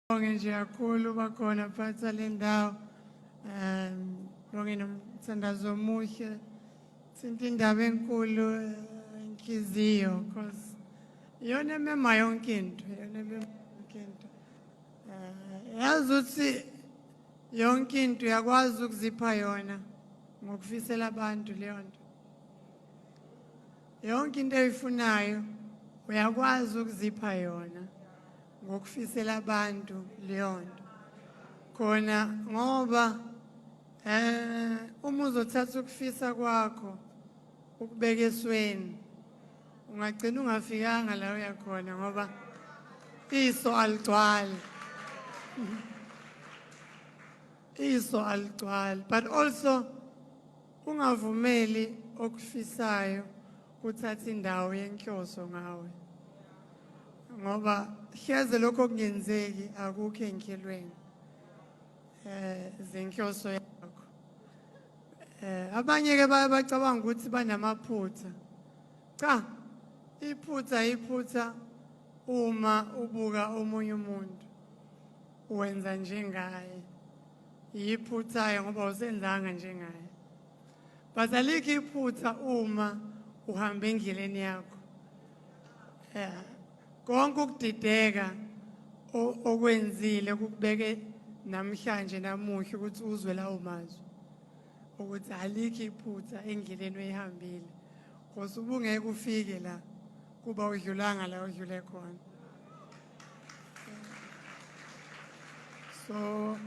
Bonge nje kakhulu bakhona phatha le ndawo um bonge nomthandazo omuhle thinta indaba enkulu eh, inhliziyo cause iyona emema yonke into iyona emema yonke into um yazi ukuthi yonke into uyakwazi ukuzipha yona ngokufisela abantu leyo nto yonke into eyifunayo uyakwazi ukuzipha yona ngokufisela abantu leyo nto khona ngoba eh uma uzothatha ukufisa kwakho ukubeka esweni ungagcina ungafikanga la uya khona ngoba iso aligcwali iso aligcwali but also Ungavumeli okufisayo kuthathe indawo yenhloso ngawe ngoba hleze lokho kungenzeki akukho enhlelweni eh zenhloso yakho eh abanye ke baye bacabanga ukuthi banamaphutha cha iphutha iphutha uma ubuka omunye umuntu wenza njengaye Yiphuthayo ngoba usenzanga njengaye. But alikho iphutha uma uhamba endleleni yakho. Yeah. Konke ukudideka okwenzile kukubeke namhlanje namuhla ukuthi uzwe lawo mazwi ukuthi alikho iphutha endleleni oyihambile ngoba ubungeke ufike la kuba udlulanga la udlule khona so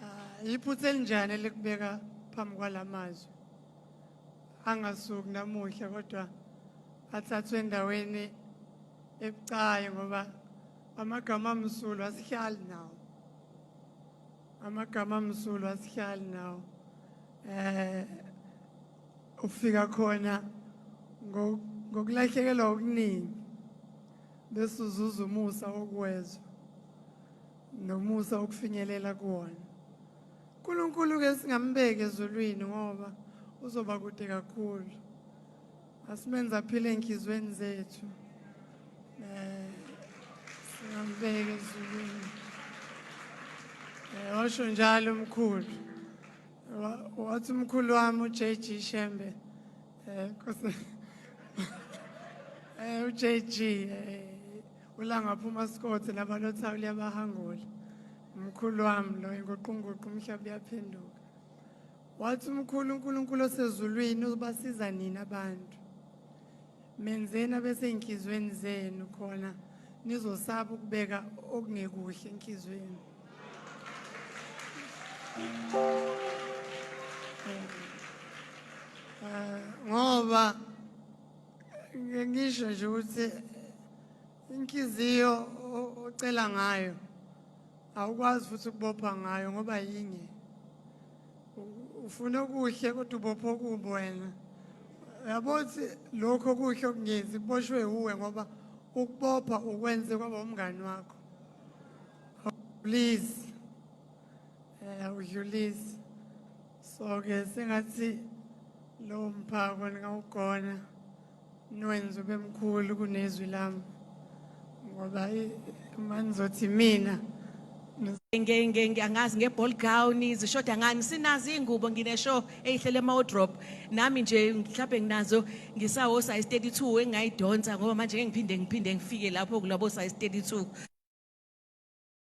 uh, iphutha elinjani elikubeka phambi kwalamazwi angasuki namuhla kodwa athathwe endaweni ebucayi ngoba amagama amsulwa asihlali nawo amagama amsulwa asihlali nawo eh Ukufika khona ngokulahlekelwa okuningi bese uzuza umusa wokwezwa nomusa wokufinyelela kuwona. UNkulunkulu-ke singambeki ezulwini ngoba uzoba kude kakhulu. Asimenze aphile ey'nhliziyweni zethu. Eh, singambeki ezulwini. Eh, washo njalo umkhulu. wathi umkhulu wami uJG Shembe eh nkosi eh uJG eh, ulangaphuma sikothe nabalotha liyabahangula umkhulu wami lo inguqunguqu umhlaba uyaphenduka wathi umkhulu uNkulunkulu osezulwini ubasiza nina abantu menzeni abesenhlizweni zenu khona nizosaba ukubeka okungekuhle enhlizweni ah, ngoba ngisho nje ukuthi inhliziyo ocela ngayo awukwazi futhi ukubopha ngayo ngoba yinye ufuna okuhle kodwa ubopha okubi wena yabo ukuthi lokho okuhle okungenzi kuboshwe wuwe ngoba ukubopha ukwenze kwaba umngani wakho please eh udlulise so ke sengathi lo mphako ningawugona niwenze ube mkhulu kunezwi lami ngoba uma nizothi mina angazi nge-ball gown zishoda ngani sinazo iy'ngubo ngineshow eyihlele ama-wardrobe nami nje mhlawumbe nginazo Ngisawo size 32 engingayidonsa ngoba manje ngeke ngiphinde ngiphinde ngifike lapho kulabo size 32.